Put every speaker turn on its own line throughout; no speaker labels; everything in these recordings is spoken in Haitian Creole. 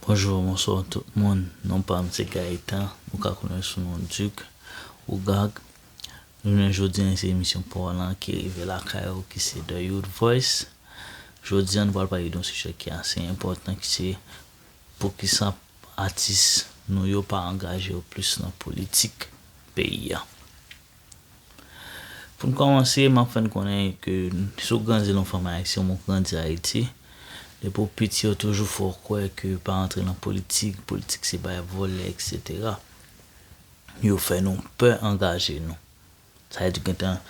Bonjour bonsoir tout moun non pam se Gaëtan ou ka konnen sou non Duc Ougag jounen jodi an se emisyon paw lan ki rive lakay ou ki se The Youth Voice jodi an nou pral pale don sijè ki ase enpòtan ki se poukisa atis nou yo pa angaje yo plis nan politik peyi a. Pou n kòmanse, m ap fè n konnen ke si w grandi lan w fanmi ayisyen oubyen w grandi Ayiti, depi w piti yo toujou fè w kwè ke pa antre lan politik, politik se bay vòlè eksetera. Yo fè nou pè angaje nou. Sa vle di yo gentan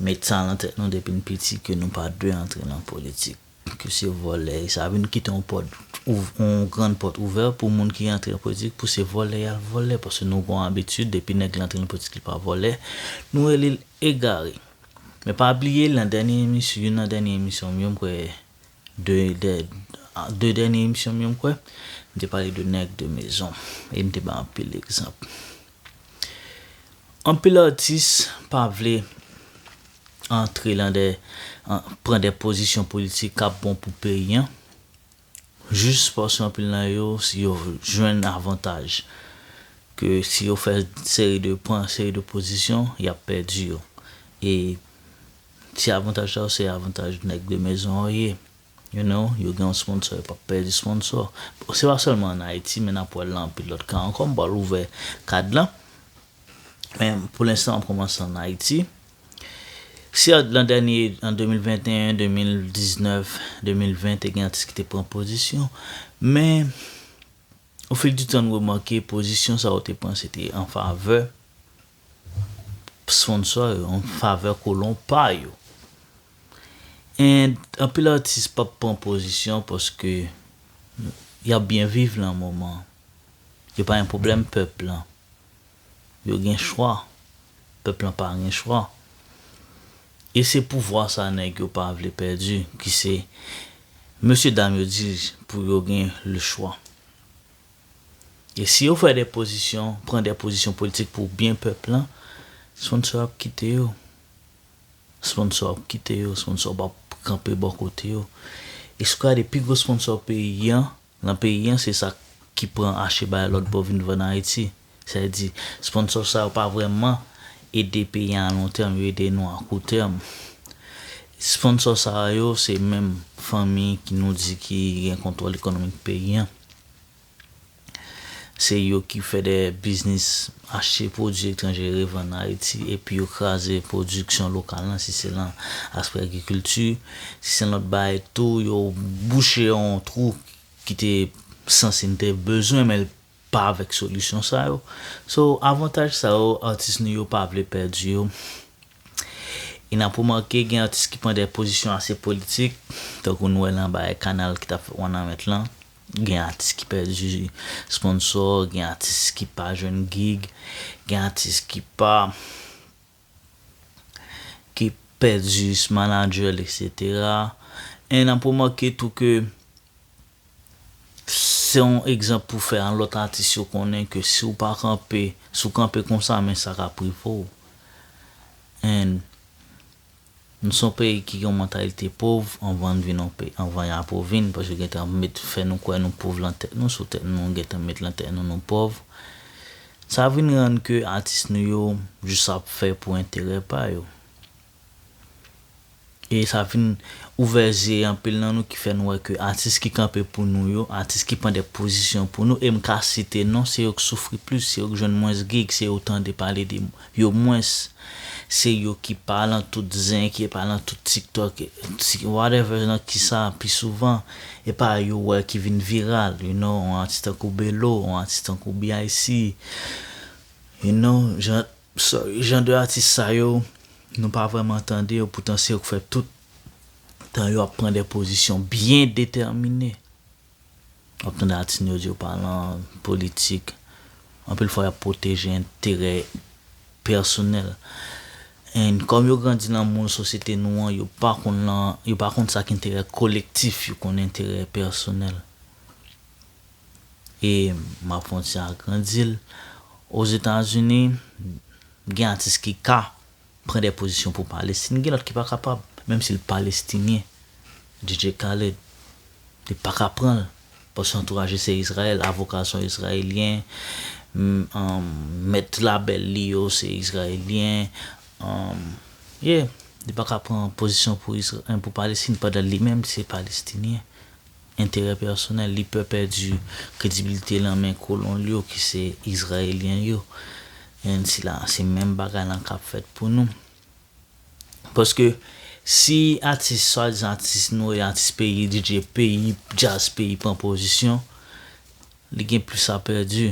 met sa lan tèt nou depi n piti ke nou pa dwe antre lan politik. Ke se vòlè e sa wi nou kite yon pòt yon grand pòt ouvè pou moun ki rantre nan politik pou se vòlè yal vòlè paske nou gon abitid depi nèg la antre nan politik li pa vòlè nou relel egare men pa bliye nan dènye emisyon youn nan dènye emisyon m yo m kwè 2 dè 2 dènye emisyon m yo m kwè m te pale de nèg de mezon e m te bay anpil egzanp. Anpil atis pa vle antre lan dè pran dè pozisyon politik kap bon pou peyi an jis paske anpil lan yo si yo jwenn avantaj ke si yo fè seri de pran seri de pozisyon yap pèdi yo e ti avantaj sa yo se avantaj nèg de mezon an ye. You know, yo gen yon sponsor, yo pap pèdi sponsor. Se pa sèlman an Ayiti, men nap wè l nan anpil lòt ka ankò. M pral ouvè kad lan. Men pou lenstan map kòmanse an Ayiti. Si an lan dènye, an 2021, 2019, 2020 te gen atis ki te pran pozisyon, men o fil di tan n remake pozisyon sa yo te pran se te an favè sponsor yo, an favè kolon pa yo. And anpil atis pap pran pozisyon paske yap byen viv lan moman yo pa gen pwoblèm pèp lan yo gen chwa pèp lan pa gen chwa e se pouvwa sa nèg yo pa vle pèdi ki se mesye dam yo di pou yo gen le chwa e si yo fè de pozisyon pran de pozisyon politik pou byen pèp lan sponsor yo ap kite yo. Sponsor ap kite yo, sponsor pap kanpe bò kote yo. Escrade pi gwo sponsor peyi an, lan peyi an se sa ki pran ache bay lòt bò vin vann Ayiti. Sa vle di, sponsor sa yo pa vrèman ede peyi an a lon tèm, yo ede nou a kou tèm. Sponsor sa yo se menm fanmi ki nou di ki gen kontwòl ekonomik peyi an. Se yo ki fè de biznis achte pwodui etranje revann Ayiti epi yo kraze pwodiksyon lokal lan si se lan aspè agrikilti, si se lòt bagay tou yo bouche yon twou ki te sanse n te bezwen men l pa avèk solisyon sa yo. So avantaj sa yo atis nou yo pa vle pèdi yo e n ap remake gen atis ki pran de pozisyon ase politik tankou nou wè lan bagay kanal ki t ap fèt Wanament lan. Gen atis ki pèdi sponsò, gen atis ki pa jwenn gig, gen atis ki pa ki pèdi manager l etc. E nan pou manke tou ke se yon egzanp pou fè a lòt atis yo konnen ke si w pa kanpe, si w kanpe konsa men sa ka prive w. And. Nou son peyi ki gen yon mantalite pov anvan vin yon peyi anvan ya pou vin paske gen tan met fè nou kwè nou pov lan tèt nou sou tèt nou gen tan met lan tèt nou nou pov sa vin rann ke atis nou yo jis ap fè pou enterè pa yo e sa vin ouvè zye anpil nan nou ki fè nou wè ke atis ki kanpe pou nou yo atis ki pran de pozisyon pou nou e m ka site non se yo k soufri plis se yo k jwenn mwens gig se yo w tande pale de Yo mwens se yo ki pa lan tout zen ki pa lan tout tiktok whatever lan kisa pi souvan e pa yo wè ki vin viral you know yon atis tankou belo yon atis tankou BIC you know jan sorry jan de atis sa yo nou pa vrèman tande yo poutan se yo k fè tout tan yo ap pran de pozisyon byen detèmine. Wap tande atis nou yo di yo pa lan politik. Anpil fwa yap pwoteje enterè pèsonèl. And kòm yo grandi lan moul sosyete nou an yo pa konn lan, yo pa konn sak enterè kolektif yo konn enterè pèsonèl. E map kontinye agrandil. Ozetazini gen atis ki ka Pran de pozisyon pou Palestin gen lot ki paka pab menm sil Palestinyen DJ Khaled li paka pranl paske antouraj li se Israel avoka son Israelyen mèt label li yo se Israelyen yeah li paka pran pozisyon pou Palestin pandan li menm se Palestinyen. Enterè pèsonèl, li pè pèdi kredibilite lan men kolon l yo ki se Izrayelyen yo. Enh sila a se menm bagay lan kap fèt pou nou. Paske si atis swadizan atis nou e atis peyi DJ peyi djaz peyi pran pozisyon, li gen plis a pèdi.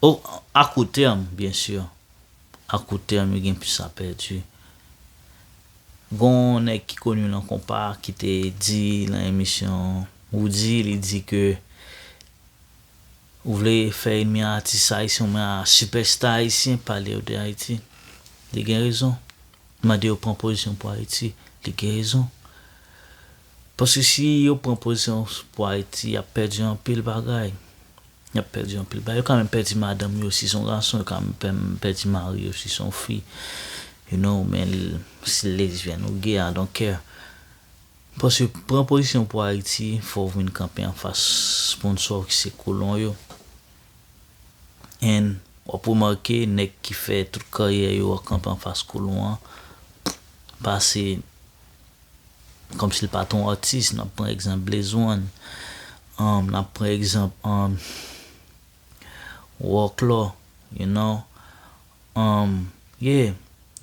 O a kou tèm byen sur. A court terme yo gen plis a pèdi. Gon nèg ki koni lan konpa ki te di lan emisyon Roody li di ke ou vle fè enmi atis ayisyen ou men a sipèsta ayisyen pale yo de Ayiti. Li gen rezon. Mande yo pran pozisyon pou Ayiti. Li gen rezon. Paske si yo pran pozisyon pou Ayiti y ap pèdi anpil bagay. Yap pèdi anpil bagay. Yo ka menm pèdi madanm yo si son gason, yo ka menm pèdi mari yo si son fi. You know, men si lesbian ou gay, I don't care. Paske pran pozisyon pou Ayiti, fòw vin kanpe anfas sponsò ki se kolon yo. And wap remake nèg ki fè tout karyè yo kanpe anfas kolon an pase Kòmsi l pa t on atis, n ap pran egzanp Blaze One, n ap pran egzanp Rocklaw, you know, yeah,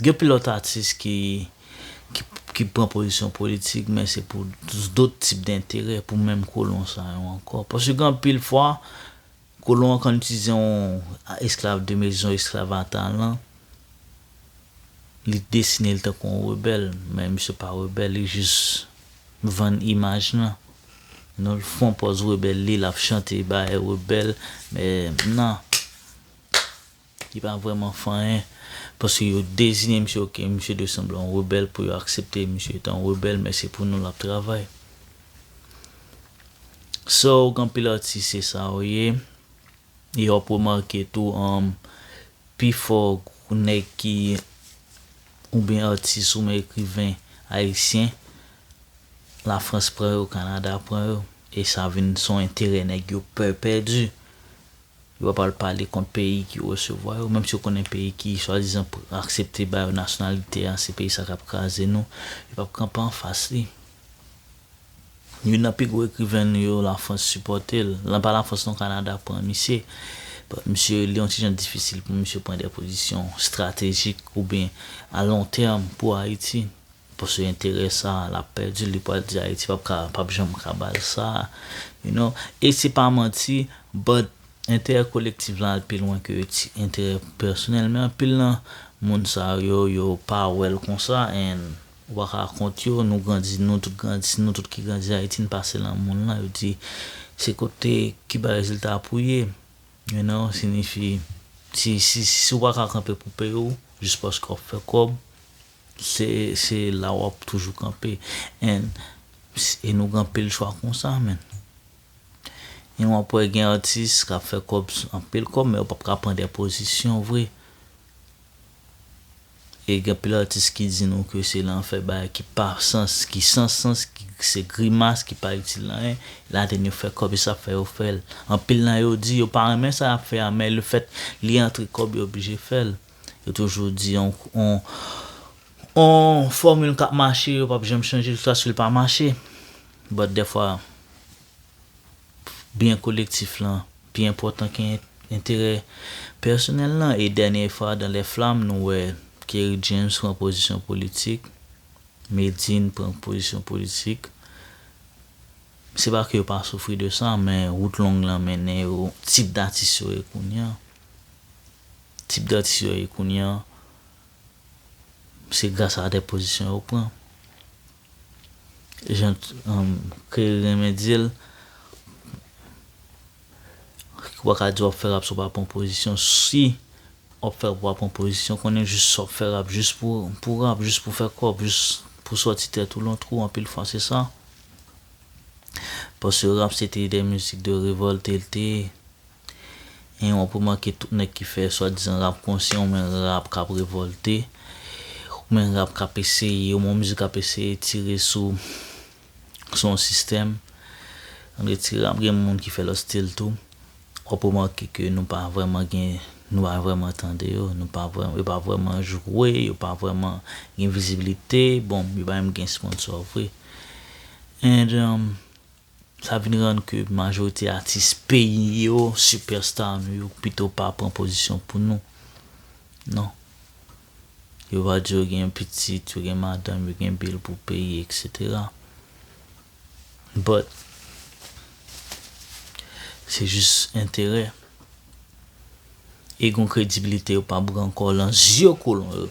gen pil lòt atis ki pran pozisyon politik men se pou dot tip denterè, pou menm kolon sa yo ankò. Paske gen anpil fwa, Kolon an konn itize yon esklav de mezon, esklav a talan, li desine li tankou yon rebèl, men misye pa rebèl, li jis vann imaj lan. Non l fon pòz rebèl li, l ap chante bagay rebèl, men nan. Li pa vrèman fanyen paske yo deziyen misye ok misye dwe sanble yon rebèl pou yo aksepte misye etan yon rebèl men se pou nou lap travay sè ok anpil atis se sa yo ye e wap remake tou pi fò nèg ki oubyen atis oubyen ekriven ayisyen la frans pran yo kanada pran yo e sa vin son enterè nèg yo pè pèdi. Yo pa pral pale kont peyi ki resevwa yo, menm si yo konnen peyi ki swadizan aksepte ba yo nasyonalite a, se peyi sa k ap kraze nou. Yo p ap kanpe anfas li. Youn nan pi gwo ekriven nou yo, Lafrans sipòte l. Lan pa Lafrans non, Kanada pran misye. Misye, li yon ti jan difisil pou misye pran de pozisyon estratejik oubyen alontèm pou Ayiti. Paske enterè sa lap pèdi li pwal di ayiti pap ka pap janm ka bal sa you know e se pa manti but enterè kolektif lan al pi lwen ke ti enterè pèsonèl men anpil nan moun sa yo yo pa wèl konsa and ou pa ka kont yo nou grandi nou tout grandi se nou tout ki grandi ayiti n pase lan moun lan yo di se kote ki bay rezilta pou ye you know sinifi si si si ou pa ka kanpe pou peyi w jis paske wap fè kòb. Se se la wap toujou kanpe and e nou gen anpil chwa konsa menn. And wap wè gen atis kap fè kòb anpil kòb men yo pap ka pran dè pozisyon vre. E gen anpil atis ki di nou ke se lan fè bagay ki pa sans ki san sans ki se grimas ki pa itil anyen ladan yo fè kòb se sak fè yo fèl. Anpil nan yo di yo pa renmen sa yap fè a men le fèt li antre kòb yo oblije fèl. Yo toujou di yon yon fòmil kap mache yo pap janm chanje jiskaske l pa mache but dèfwa byen kolektif lan pi enpòtan ke enterè pèsonèl lan e dènye fwa dans les flammes nou wè Kerry James pran pozisyon politik, Medine pran pozisyon politik se pa ke yo pa soufri de sa men wout long lan mennen yo tip datis yo ye kounya. tip datis yo ye kounye an, se gras a de pozisyon yo pran. Jan Keri renmen di l, w pa ka di w ap fè rap si w pa pran pozisyon. Si w ap fè rap, w pa pran pozisyon, konnen jis sa w ap fè rap jis pou rap, jis pou fè kòb, jis pou sòti tèt ou lan twou, anpil fwa se sa. Paske rap se te de mizik de revòlte l te ye. Hein wap remake tout nèg ki fè swa dizan rap konsyan ou men rap kap revòlte ou men rap kap eseye ou men yon mizik kap eseye tire sou sou yon sistèm an retire ap gen moun ki fè lòt stil tou wap remake ke nou pa vrèman gen nou pa vrèman tande yo nou pa vrèman yo pa vrèman jwe yo pa vrèman gen vizibilite bon yo pa menm gen sponsò vre and Sa vin rann ke majorite atis peyi yo, sipèsta nou yo pito pa pran pozisyon pou nou. Non. Yo va di yo gen pitit, yo gen madanm, yo gen bil pou peye etc. But, se jis enterè. E gen yon kredibilite yo pa pran ankò lan zye kolon yo.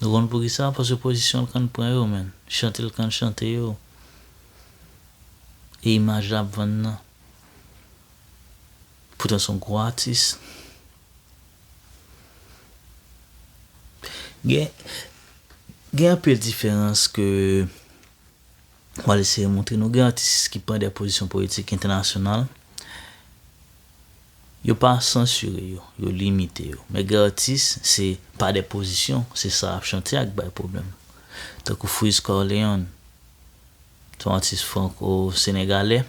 Nou konn poukisa paske pozisyon l konn pran yo menn chante l konn chante yo e imaj lap vann nan poutan son gwo atis gen anpil diferans ke Mwen eseye montre nou gen atis ki pran de pozisyon politik entènasyonal, yo pa sansire yo, yo limite yo. Men gen atis, se pa de pozisyon, se sa y ap chante a k bay pwoblèm. Tankou Fritz Corleone, se yon atis franko-senegalè.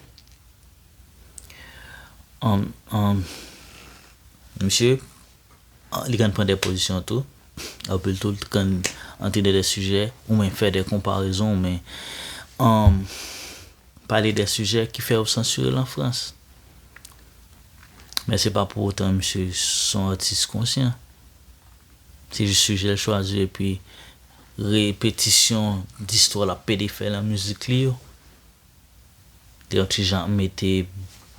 Misye. Li konn pran dè pozisyon tou. Anpil tou li konn antre nan dè sijè ou men fè dè konparezon ou men pale dè sijè ki fè yo sansire l an Frans. Men se pa pou otan misye s on atis konsyan. Se jis sijè l chwazi epi repetisyon distwa l ap pede fè nan mizik li yo. Te yon ti jan mete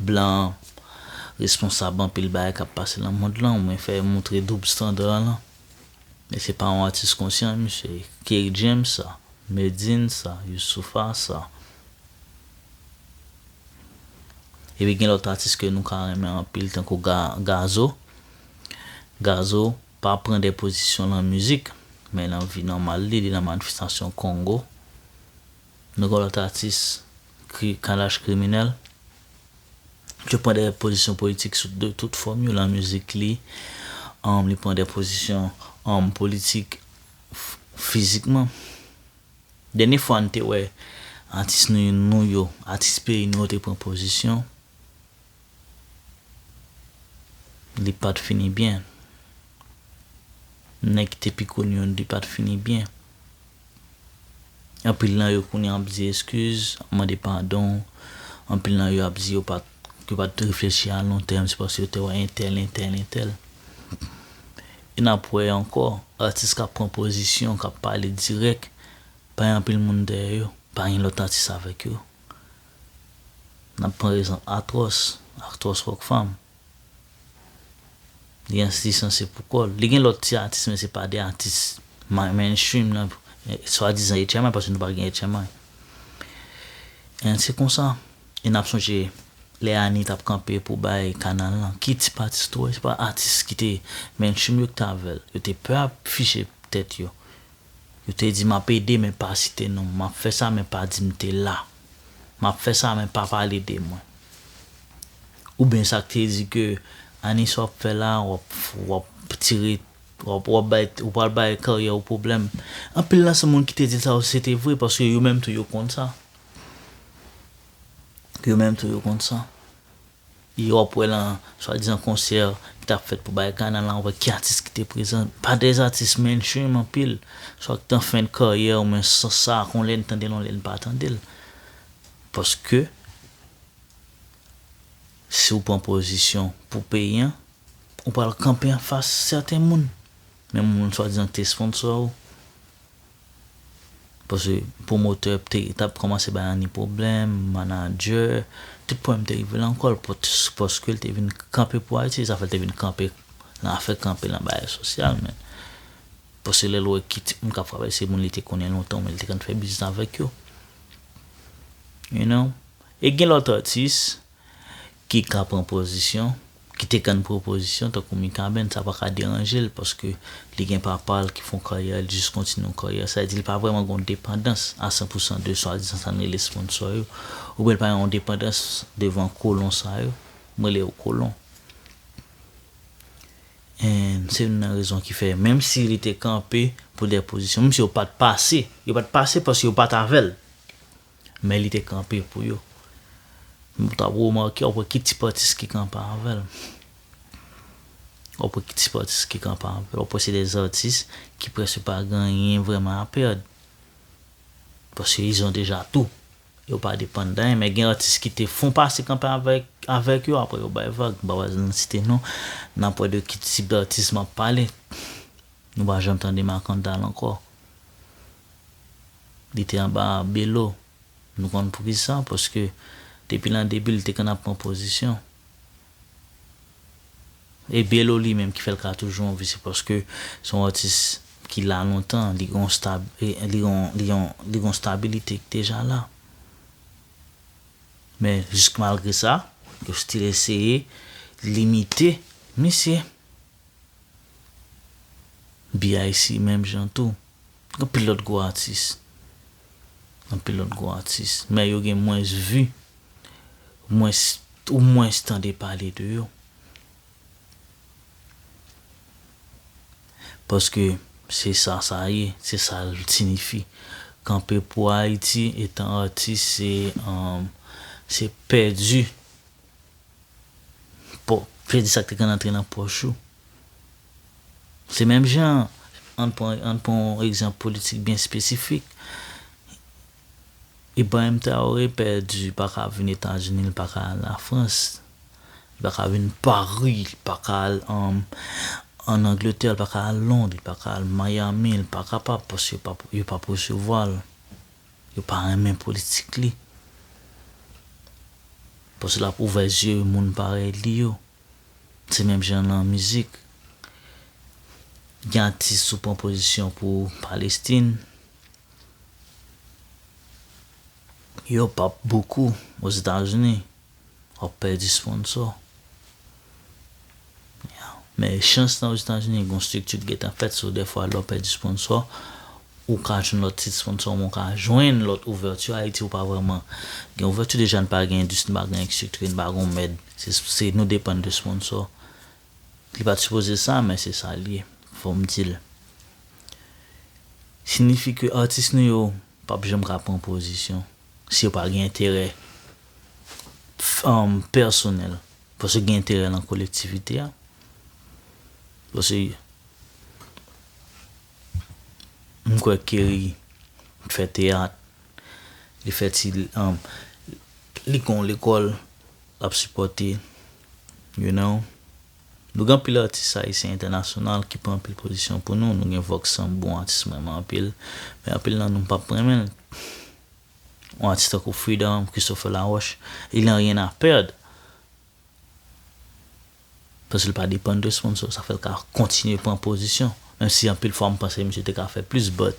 blan responsab anpil bagay kap pase lan mond lan ou byen fè moutre doub standard an lan. E se pa yon atis konsyan misye ye. Kerry James sa, Medine sa, Youssoupha sa. Epi gen lòt atis ke nou ka renmen anpil tankou Gazo. Gazo pa pran de pozisyon lan mizik men lan vi nòmal li, li lan manifestasyon Kongo. Nou gen yon lòt atis ki Kalash Kriminèl ki pran de pozisyon politik sou de tout fòm yo lan mizik li, li pran de pozisyon politik fizikman. Dènye fwa n te wè atis nou yo, atis peyi nou yo te pran pozisyon. Li pat fini byen. Nèg ki te pi koni yo li pat fini byen. Anpil nan yo kounye ap di eskiz, ap mande padon. Anpil nan yo ap di yo pat yo pat reflechi a lon tèm se paske yo te wè entèl, entèl, entèl. E nap wè ankò atis kap pran pozisyon, kap pale dirèk, pa gen anpil moun dèyè yo. Pa gen lòt atis avèk yo. N ap pran egzanp Atros, Actros Rock Fam. Li gen atis lan se pou kò l. Li gen lòt ti atis men se pa de atis mainstream nan swadizan HMI paske nou pa gen HMI. An se konsa. E n ap sonje lè Ani t ap kanpe pou bay kanal lan, ki tip atis li te wè? Se pa atis ki te mainstream yo ki te avè l. Yo te pè afiche tèt yo. Yo te di, 'M ap ede, men pa site non m. M ap fè sa, men pa di m te la. M ap fè sa, men pa pale de mwen. Oubyen sa k te di ke, 'Ani sa w ap fè la a? W ap, w ap tire, w ap, w ap bay, ou pral bay karyè ou pwoblèm. Anpil nan se moun ki te di l sa yo se te vre, paske yo menm tou yo konn sa. Yo menm tou yo konn sa. Yo ap wè lan swadizan konsè ki tap fèt pou bay kana lan wè ki atis ki te prezan. Pa de atis mainstream anpil. Swa ki t an fen de karyè ou men san sa kon lè n tande l on lè n pa tande l. Paske si ou pran pozisyon pou peyi an, ou pral kanpe anfas sèten moun. Menm moun swadizan ki te sponsor ou. Paske pwomotè te tap kòmanse bay Annie pwoblèm, manadjè, tout pwoblèm te rive lan kòl paske l te vin kanpe pou Ayiti, zafè l te vin kanpe lan afè kanpe lan bagay sosyal menm. Paske lè l wè ki tip moun kap frape l se moun li te konnen lontan oubyen li te konn fè biznis avèk yo. You know? E gen lòt atis ki ka pran pozisyon, ki te kann pwopozisyon tankou Mikaben, sa pa ka deranje l paske li gen papa l ki fè yon karyè, li jis kontinye yon karyè. Sa vle di li pa vrèman gen yon depandans a san pou san de swadizan sa n rele sponsò yo oubyen li pa gen yon depandans devan kolon sa yo, m rele yo kolon. And se youn nan rezon ki fè menm si li te kanpe pou dè pozisyon, menm si yo pa t pase, yo pa t pase paske yo pa t avè l. Men li te kanpe pou yo. Ou ta remake, w ap wè ki tip atis ki kanpe avè l. W ap wè ki tip atis ki kanpe avè l. W ap wè se de atis ki prèske pa gen anyen vrèman a pèd. Paske izon deja tou. Yo pa depann de anyen. Men gen atis ki te fon pase kanpe avèk yo apre yo bay vag. M pa pral nan site non. N ap wè de ki tip atis m ap pale. Nou pa janm tande Makandal ankò. Li te anba Belo. Nou konn poukisa? Paske depi lan debi li te konn ap pran pozisyon. E Belo li menm ki fè l ka toujou anvi se paske se yon atis ki la lontan, li gen yon stab, li gen yon, li gen yon stabilite ki deja la. Men jisk malgre sa, yo stil eseye limite misye. BIC menm jan tou. Anpil lòt gwo atis. Anpil lòt gwo atis. Men yo gen mwens vi. Mwens, ou mwens tande pale de yo. Paske, se sa sa ye. Se sa l sinifi. Kanpe pou Ayiti etan atis se, se pèdi, pèdi sa k te konn antre nan pòch ou. Se menm jan an, ann pran yon egzanp politik byen espesifik, Ibrahim Traoré pèdi, li pa ka vin Etazini, li pa ka al Lafrans, li pa ka vin Pari, li pa ka al ann Angletè, li pa ka al Lond, li pa ka al Miami, li pa kapab paske yo pa p resevwa l, yo pa renmen politik li. Paske l ap ouvè zye moun parèy li yo. Se menm jan nan mizik, gen atis ou pran pozisyon pou Palestin, yo p ap bokou Ozetazini, w ap pèdi sponsò. Men chans nan Ozetazini gen yon strikti ki gentan fèt, so dèfwa lè w pèdi sponsò, Ou ka jwenn lòt tit sponsor men ou ka jwenn lòt ouverture Haïti ou pa vrèman gen ouverture deja n pa gen industrie n pa gen estriktre n pa gon mèd se nou depann de sponsor li pat sipoze sa men se sa l ye fòm di l sinifi ke atis nou yo pap janm ka pran pozisyon si yo pa gen enterè pèsonèl paske gen enterè nan kolektivite a paske. M kwè Kerry t fè teyat, li fè ti li gon lekòl lap sipòte you know. Nou gen anpil atis ayisyen entènasyonal ki pran anpil pozisyon pou nou, nou gen Vox Sam bon atis m renmen anpil, men anpil nan nou m pap renmen l. Yon atis tankou Freedom, Christopher Laroche, il en rien à perdre. Paske l pa depann de sponsor, sa fè l ka kontinye pran pozisyon. Menm si anpil fwa m panse misye te ka fè plis but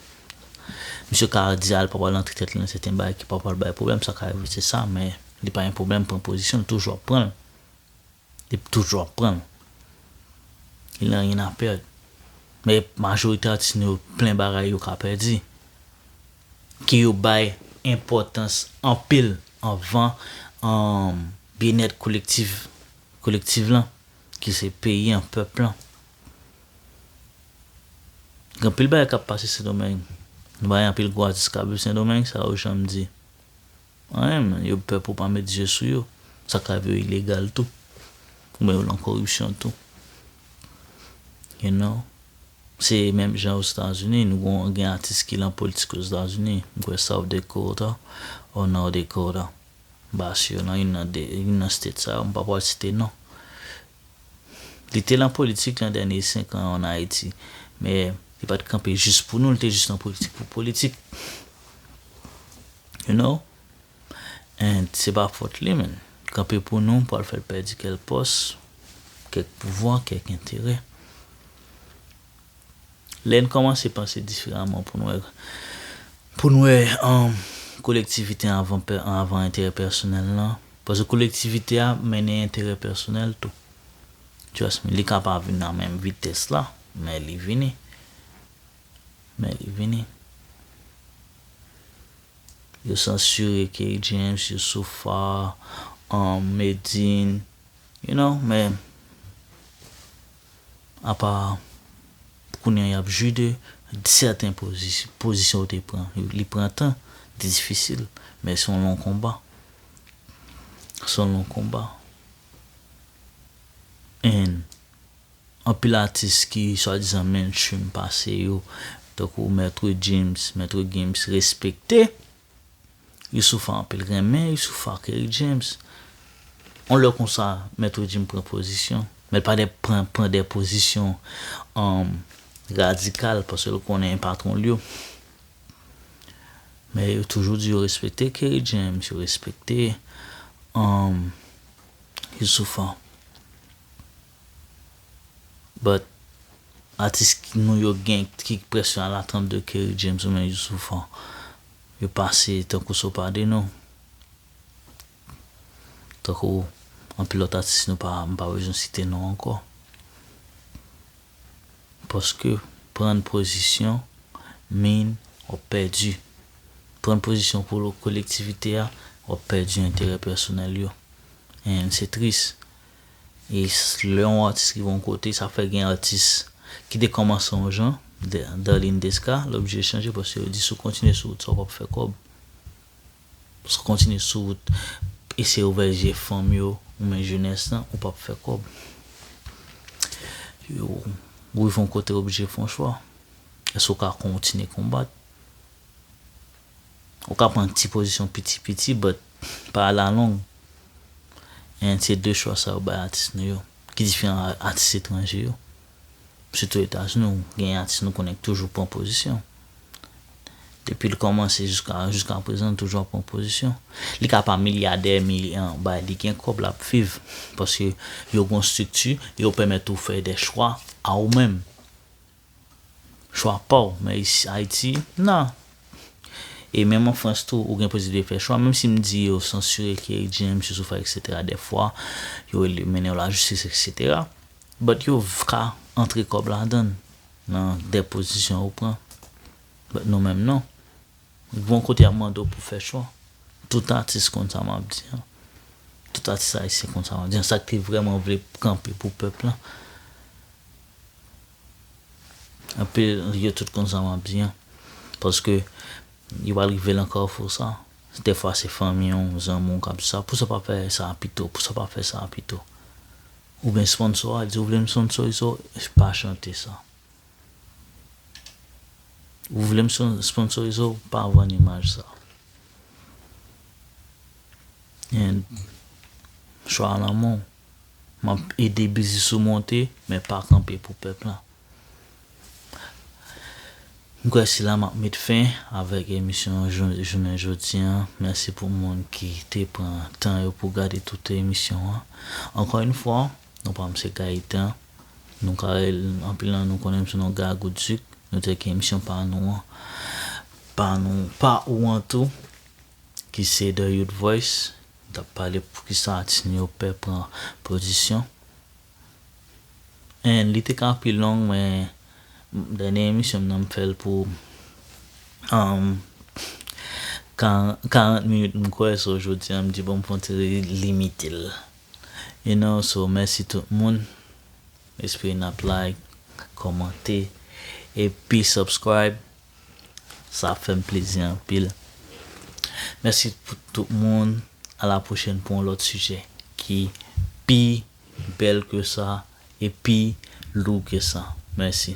misye ka di a li pa pral antre tèt li nan sèten bagay ki pa pral bay pwoblèm, sa ka rive se sa men li pa gen pwoblèm pran pozisyon l toujou ap pran l. Li toujou ap pran l. Il n'a rien à perdre. Men majorite atis nou yo plen bagay yo ka pèdi. Ke yo bay enpòtans anpil anvan byenèt kolektif. Kolektiv lan, ki se peyi an, pèp lan. Gen anpil bagay k ap pase Sendomeng. Nou bay anpil gwo atis k ap viv Sendomeng sa yo janm di anyen men yo pè pou w pa met zye sou yo. Sa k ap yo ilegal tou. Oubyen yo lan koripsyon tou. You know. Se menm jan Ozetazini. Nou gon gen atis ki lan politik Ozetazini. M kwè South Dakota or North Dakota. Bas yo nan youn nan 2, youn nan state sa yo, m pa pral site non. Li te lan politik lan dènye 5 an an Ayiti, men li pat kanpe jis pou nou, li te jis lan politik pou politik. You know? And se pa fòt li menn. Kanpe pou nou pral fè l pèdi kèl pòs, kèk pouvwa, kèk enterè. Lè n kòmanse panse diferaman pou n wè pou n wè kolektivite an avan enterè pèsonèl lan, paske kolektivite a mennen enterè pèsonèl tou. Trust me, li ka pa vin nan menm vitès la, men li vini. Men li vini. Yo sansire Kerry James, Youssoupha, Medin, you know, men. Apa kounya y ap jwi de sèten pozisyon ou te pran. Li pran tan, li difisil, men se yon long konba. Se yon long konba. And, anpil atis ki swadizan mainstream pase yo, tankou Maître Gims, Maître Gims respekte. Youssoupha anpil renmen Youssoupha ak Eric James yon lè konsa mèt ou dim pran pozisyon mèt pa de pran pran de pozisyon radikal paskel konnen patronl yo men yo toujou di yo respekte Kerry James yo respekte Youssoupha. But atis nou yo gen ki k près yo ala 32 Kerry James oubyen Youssouf an yo pase tankou so pa de nou tankou anpil lòt atis nou pa m pa bezwen site non ankò paske prann pozisyon min w ap pèdi prann pozisyon pou kolektivite a w ap pèdi enterè pèsonèl yo and se tris. E lè yon atis rive yon kote, sa fè gen atis ki te kòmanse yon jan, Darline Desca, l oblije chanje paske yo di si w kontinye sou wout sa w p ap fè kòb. Si w kontinye sou wout eseye ouvè je fanm yo ou men jenès lan, ou p ap fè kòb. Yo rive yon kote yo oblije fè yon chwa. Èske w ka kontinye konbat? Ou ka pran ti pozisyon piti piti but pa alalong. And se 2 chwa sa yo bay atis nou yo ki diferan a atis etranje yo. Sitou etazini ou genyen atis nou konnen ki toujou pran pozisyon. Depi l kòmanse jiska jiska prezan l toujou ap pran pozisyon. Li ka pa milyadè mi bay li gen kòb l ap viv paske yo gon strikti yo pèmèt ou fè dè chwa a ou menm. Chwa paw, men isi Haiti nan. E menm an France tou ou gen posiblite fè chwa, menm sim di yo sansire Kerry James, Youssouf Faye etc dèfwa, yo rele mennen yo la justice etc, but yo ka antre kòb ladann nan dè pozisyon ou pran, but nou menm non. Gon kote yap mande w pou fè chwa. Tout atis konn sa map di an. Tout atis Ayisyen konn sa map di an. Sak te vrèman vle kanpe pou pèp lan. Anpe yo tout konn sa map di an. Paske yo pral rive lan kafou sa. Dè fwa se fanmi w, zanmi w kap di sa, pousa pa fè sa pito, pousa pa fè sa pito. Ou gen sponsò a, di ou vle m sponsorize w, pa chante sa. Ou vle m sponsorize w, pa vann imaj sa. And chwa a lan men w. Map ede biznis ou monte men pa kanpe pou pèp lan. M kwè se la map met fen avèk emisyon jounen jodi an. Mèsi pou moun ki te pran tan yo pou gade tout emisyon an. Ankò yn fwa, non pa m se Gaëtan. Nou ka rele m, anpil nan nou konnen m sou non Gagou Duc. Nou te gen emisyon pa nou an, pa nou, pa ou an tou ki se The Youth Voice. Tap pale poukisa atis nou yo pè pran pozisyon en li te ka pi long men dènye emisyon m nan m fèl pou 40 minit m kwè so jodi an m di bon m fon ti limite l you know so mèsi tout moun espere nap like kòmante epi subscribe. Sa ap fèm plezi anpil. Mèsi pou tout moun. A la pwochèn pou yon lòt sijè ki pi bèl ke sa e pi lou ke sa. Mèsi.